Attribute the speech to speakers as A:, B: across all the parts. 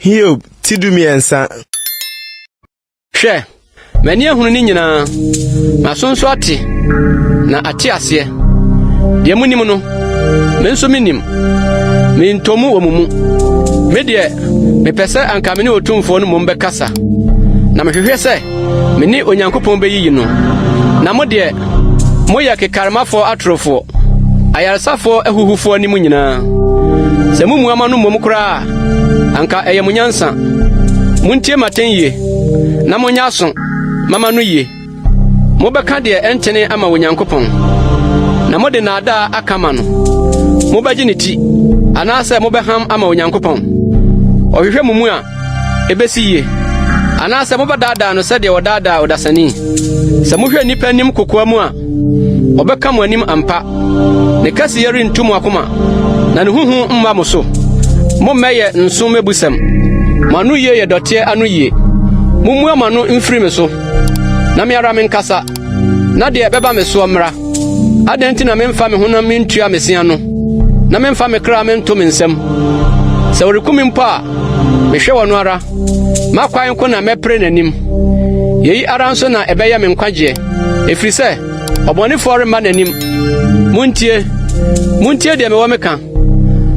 A: Hiob ti dumiɛnsa.
B: Hwɛ, m'ani ahunu ne nyinaa, m'aso nso ate, na ate aseɛ. Deɛ monim no, me nso menim, mentɔ mu wɔ mo mu. Me deɛ, mepɛ sɛ anka me ne Otumfoɔ no mmom bɛkasa, na mehwehwɛ sɛ Me ne Onyankopɔn bɛyiyi no. Na mo deɛ, moyɛ kekaremafoɔ atorofoɔ, ayaresafoɔ ahuhufoɔ anim nyinaa. Sɛ mo mu ama no mmom koraa a, anka ɛyɛ mo nyansa. Montie m'atɛn yie, na monyɛ aso ma m'ano yie. Mobɛka deɛ ɛntene ama Onyankopɔn, na mode naadaa aka ama no. Mobɛgye ne ti, anaasɛ mobɛham ama Onyankopɔn? Ɔhwehwɛ mo mu a, ebesi yiye, anaasɛ mobɛdaadaa no sɛdeɛ wɔdaadaa ɔdasani. Sɛ mohwɛ nnipa anim kokoa mu a, ɔbɛka mo anim ampa. Ne kɛseyɛ rentu mo akoma, na ne huhu mma mo so. Mommɛyɛ nso mmɛbusɛm. Mo ano yie yɛ dɔteɛ ano yie. Mommua mo ano mfiri me so, na me ara menkasa. na deɛ ɛbɛba me soɔ mmra. Adɛn nti na memfa me honam mentua me se ano, na memfa me kra mento me nsam? Sɛ ɔreku me mpo a, mehwɛ wɔ no ara. M'akwan ko na mɛpere n'anim. Yei ara nso na ɛbɛyɛ me nkwagyeɛ, ɛfiri sɛ ɔbɔnefoɔ remma n'anim. Montie, montie deɛ mewɔ meka,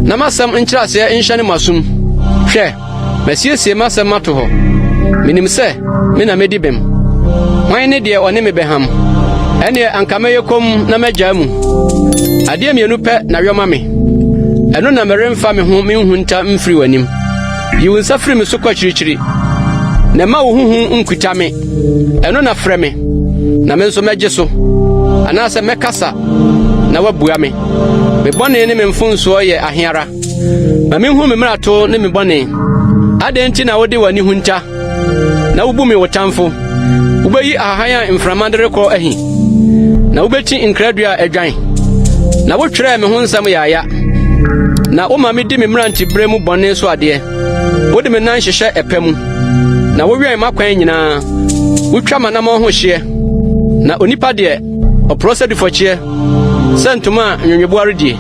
B: na m'asɛm nkyerɛaseɛ nhyɛne mo asom. Hwɛ! Masiesie m'asɛm mato hɔ. Minim sɛ me na medi bem. Hwan ne deɛ ɔne me bɛham? Ɛnneɛ anka mɛyɛ komm na magyaa mu. Adeɛ mmienu pɛ na yɔ ma me. Ɛno na meremfa me ho menhunta mfiri w'anim. Yi wo nsa firi me so kɔ akyirikyiri, na mma wo ho hu nkuta me. Ɛno na frɛ me, na me nso mɛgye so. Anaasɛ mɛkasa, na woabua me. Me bɔne ne me mfomsoɔ yɛ ahe ara! Ma minhu me mmarato ne me bɔne. Adɛn nti na wode w'ani hunta na wubu me wo tamfo? Wubeyi ahahan a mframa de rekɔ ahi, na wubekyi nkradua a adwan. Na wotwerɛɛ me ho nsɛm yaaya, na woma medi me mmerantebere mu bɔne so adeɛ. Wode me nan hyehyɛ ɛpɛ mu, na wowɛn m'akwan nyinaa. Wotwa m'anammɔn ho hyeɛ, na onipa deɛ, ɔporɔ sɛ dufɔkyeɛ, sɛ ntoma a nweweboa redie.